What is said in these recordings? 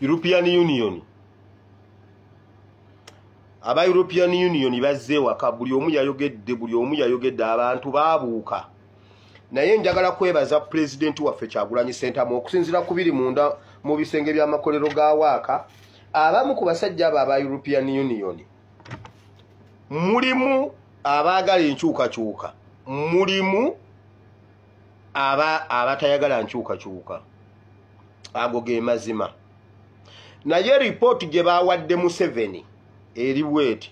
european union aba european union bazze ewaka buli omu yayogedde buli omu yayogedde abantu babuuka naye njagala kwebaza pulezidenti waffe kyagulanyi sentamu okusinzira ku biri munda mu bisenge by'amakolero ga waaka abamu ku basajja abo aba european union mulimu abaagala enkyukakyuka mulimu aba abatayagala nkyukakyuka ago ge mazima naye ripooti gye baawadde museveni eri bweti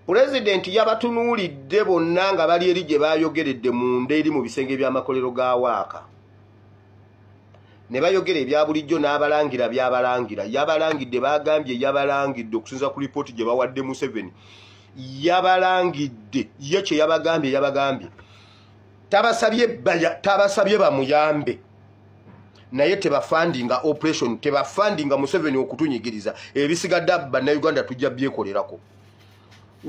pulezidenti yabatunuulidde bonna nga bali eri gye baayogeredde munda eri mu bisenge by'amakolero ga waaka ne bayogera ebya bulijjo n'abalangira byabalangira yabalangidde baagambye yabalangidde okusinza ku lipooti gye bawadde museveni yabalangidde ye kye yabagambye yabagambye tabasabye tabasabye bamuyambe naye tebafandinga operation tebafandinga museveni okutunyigiriza ebisigadde bannayuganda tujja byekolerako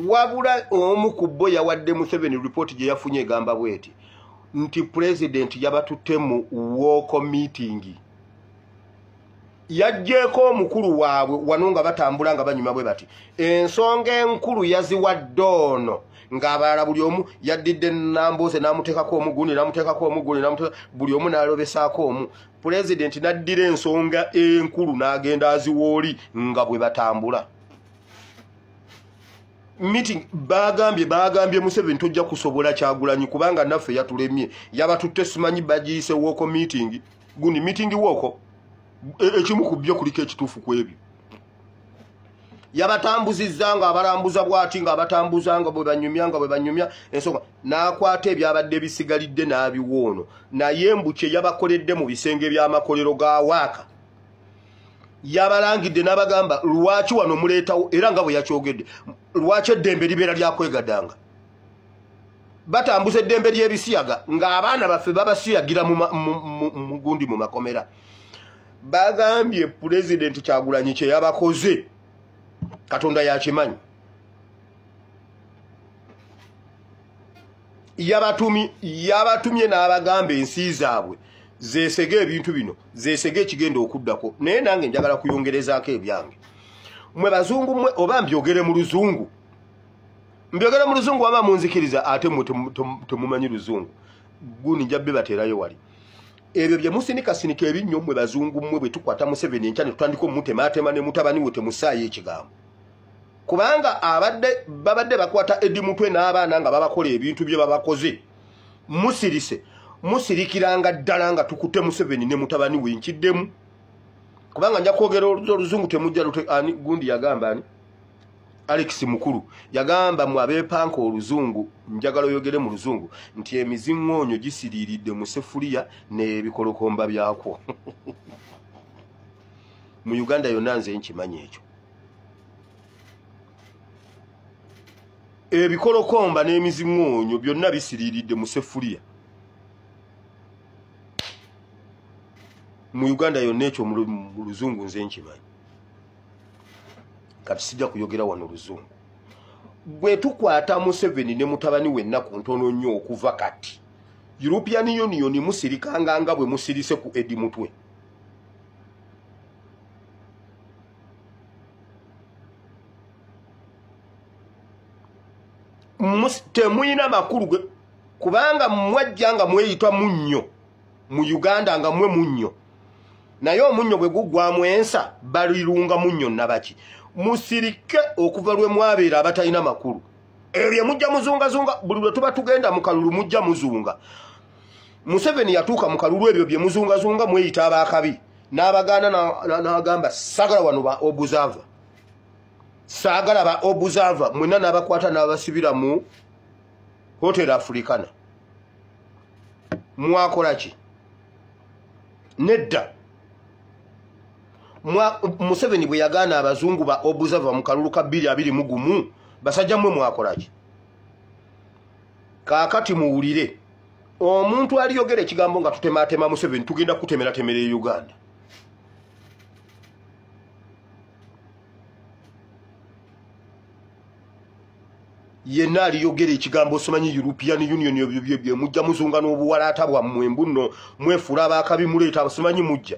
wabula omu ku bo yawadde museveni ripooti gye yafunye egamba bweti nti pulezidenti yabatutte mu wooko miitingi yajjeeko omukulu waabwe wano nga batambula nga banyuma bwe bati ensonga enkulu yaziwadde ono ng'abalala buli omu yaddidde nambooze n'amuteekako omuguni n'amuteekako omuguni buli omu n'alobesaako omu pulezidenti n'addira ensonga enkulu n'agenda aziwooli nga bwe batambula meeting baagambye baagambye museveni tojja kusobola kyagulanyi kubanga naffe yatulemye yabatutte simanyi bagiyise wooko meeting gundi meeting wooko e, ekimu ku byo kuliko ekituufu ku ebyo yabatambuzizza nga abalambuza bwati nga abatambuza nga bwe banyumya nga bwe banyumya ensonga n'akwata ebyabadde bisigalidde n'abiwoono naye mbu kye yabakoledde mu bisenge by'amakolero ga waaka yabalangidde n'abagamba lwaki wano muleetawo era nga bwe yakyogedde lwaki eddembe libeera lyakwegadanga batambuza eddembe ly'ebisiyaga ng'abaana baffe babasiyagira mugundi mu makomera bagambye pulezidenti kyagulanyi kye yabakoze katonda yakimanyi yabatumye n'abagamba ensi zaabwe zesege ebintu bino zesege ekigenda okuddako naye nange njagala kuyongerezaako ebyange mwe bazungu mwe oba mbyogere mu luzungu mbyogere mu luzungu waba munzikiriza ate mwe temumanyi luzungu guni nja bibateerayo wali ebyo bye musinikasinika ebinnyo mwe bazungu mmwe bwe tukwata museveni enkya ne tutandika omutemaatema ne mutabani we temusaayo ekigambo kubanga abadde babadde bakwata edi mutwe n'abaana nga babakola ebintu bye babakoze musirise musirikiranga ddala nga tukute museveni ne mutabani we nkiddemu kubanga nja kwogera oluzungu temujja lute ani gundi yagamba ani alex mukulu yagamba mu abeepanka oluzungu njagala oyogere mu luzungu nti emiziŋŋoonyo gisiriiridde mu sefuliya n'ebikolokomba byakwo mu uganda yonna nze nkimanyi ekyo ebikolokomba n'emiziŋoonyo byonna bisiriiridde mu sefuliya mu uganda yonna ekyo mu luzungu nze nkimanyi kati sijja kuyogera wano luzungu bwe tukwata museveni ne mutabani wenna ku ntono nnyo okuva kati european union musirikanga nga bwe musirise ku edi mutwe temulina makulu ge kubanga mwajja nga mweyita munnyo mu uganda nga mwe munnyo naye omunnyo bwe guggwamu ensa balirunga munnyo nabaki musirike okuva lwe mwabeera abatalina makulu ebyo mujja muzungazunga buli lwe tuba tugenda mu kalulu mujja muzunga museveni yatuuka mu kalulu ebyo bye muzungazunga mweyita abaakabi n'abagaana n'agamba sagala wano ba obusava saagala ba obusava mwena n'abakwata n'abasibira mu hotel africana mwakola ki nedda museveni bwe yagaana abazungu ba obusava mu kalulu ka bbiri abiri mu gumu basajja mmwe mwakola ki kaakati muwulire omuntu aliyogera ekigambo nga tutematema museveni tugenda kutemeratemera e uganda yenna aliyogera ekigambo simanyi european union ebyo byebye mujja muzunga n'obuwalaata bwammwe mbuno mwefuula abakabi muleeta simanyi mujja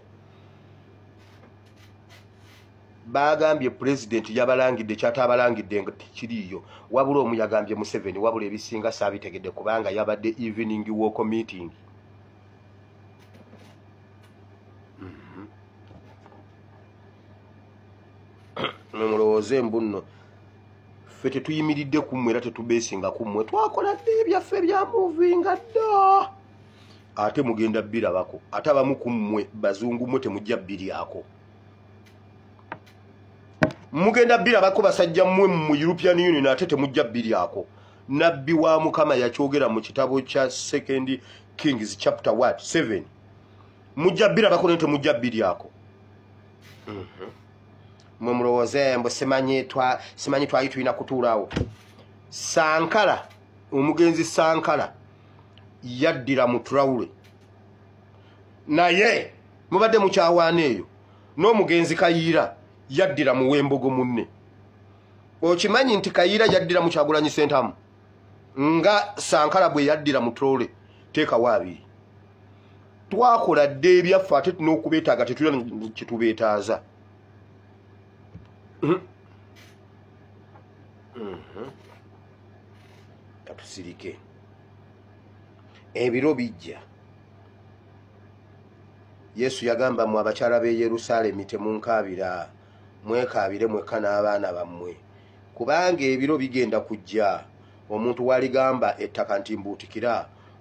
baagambye pulezidenti yabalangidde kyataabalangidde nga tekiriiyo wabula omu yagambye museveni wabula ebisinga saabitegedde kubanga yabadde evening walk meeting mhm. nomulowooze mbu nno ffe tetuyimiridde ku mmwe era tetubeesinga ku mmwe twakola dde ebyaffe byamuvinga dda ate mugenda birabako ate abamu ku mmwe bazungu mmwe temujja biryako mugenda birabako basajja mmwe mu european union ate temujja biryako nabbi wa mukama yakyogera mu kitabo kya second kings chapter wat 7 mujja birabako naye temujja biryako mhm. mwe mulowooze mbu simanyi twali tulina kutuulawo sankala omugenzi sankala yaddira mu trawule naye mubadde mukyawaana eyo n'omugenzi kayiira yaddira mu wembogo munne okimanyi nti kayiira yaddira mukyagulanyi sentamu nga sankala bwe yaddira mu trole teekawo abiri twakola dda ebyaffe ate n'okubeetaaga tetulina kyetubeetaaza hmm. hmm. katusirike mm -hmm. ebiro bijja yesu yagamba mwe abakyala b'e yerusaalemi temunkaabira mwekaabire mwekka n'abaana bammwe kubanga ebiro bigenda kujja omuntu waligamba ettaka nti mbuutikira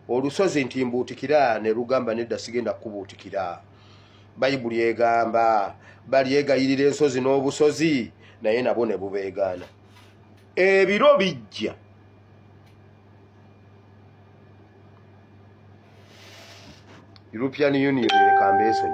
olusozi nti mbuutikira ne lugamba nedda sigenda kukubuutikira bayibuli egamba balyegayirira ensozi n'obusozi naye nabo ne bubeegaana ebiro bijja European Union leka mbeesonyiwe.